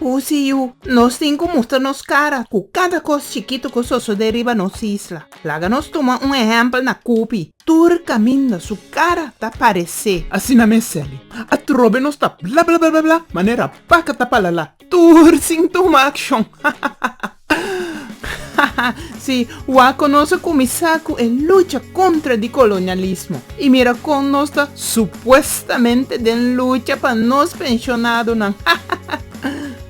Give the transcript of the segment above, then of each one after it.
Pusi yu, nos tin ku mustra nos kara ku kada kos chikitu ku sosodé riba nos isla. Laga nos tuma un ehèmpel na Kupi, tur kaminda su kara ta paresé. Asina mester li. Atrobe nos ta blablablablabla manera baka ta palalá, tur sin tuma akshon. Hahahaha. Sí, wak kon nos a kuminsá ku e lucha kontra di kolonialismo i mira kon nos ta supuestamente den lucha pa nos pensionadonan.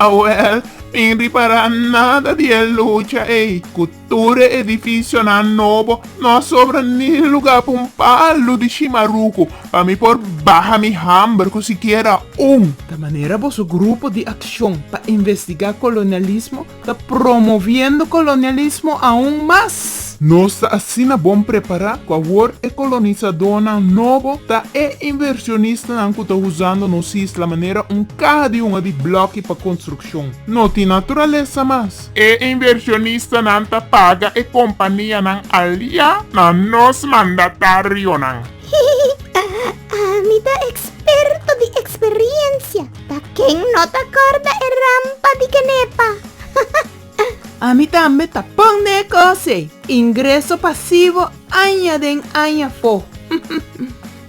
Awèl, tin ripará nada di e lucha ei. Ku tur e edifisionan nobo, no a sobra ni lugá pa un palu di shimaruku pa mi por baha mi hamber ku sikiera Un, ta manera boso grupo di akshon pa investigá kolonialismo ta promoviendo kolonialismo aun mas. Nos ta asina bon prepará ku awor e kolonisadónan nobo ta e invershonistanan ku ta usando nos isla manera un kaha di hunga di blòki pa konstrukshon. No tin naturalesa mas. E invershonistanan ta paga e kompanianan aliá na nos mandatarionan. Ami ta eksperto di eksperiensia, pa ken no ta kòrda e rampa di Kenepa. Ami tambe ta pon na e kos ei, ingreso pasivo aña den aña afó.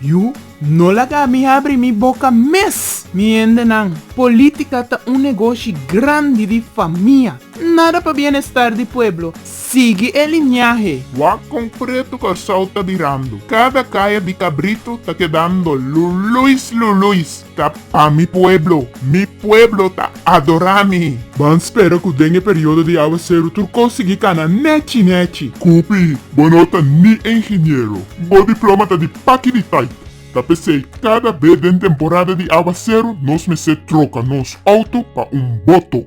Yu, no laga mi habri mi boka mes, mi hendenan. Polítika ta un negoshi grandi di famia, nada pa bienestar di pueblo, Sigui e liñahe. Wak konkreto Kòrsou ta birando. Kada kaya di Kabritu ta kedando luluis luluis. Ta pa mi pueblo. Mi pueblo ta adorá mi. Ban spera ku den e periodo di awaseru tur kos sigui kana nèchi nèchi. Kupi, bo no ta ni e ingeniero. Bo diploma ta di paki di tait. Ta p'esei kada be den temporada di awaseru nos mester troka nos outo pa un boto.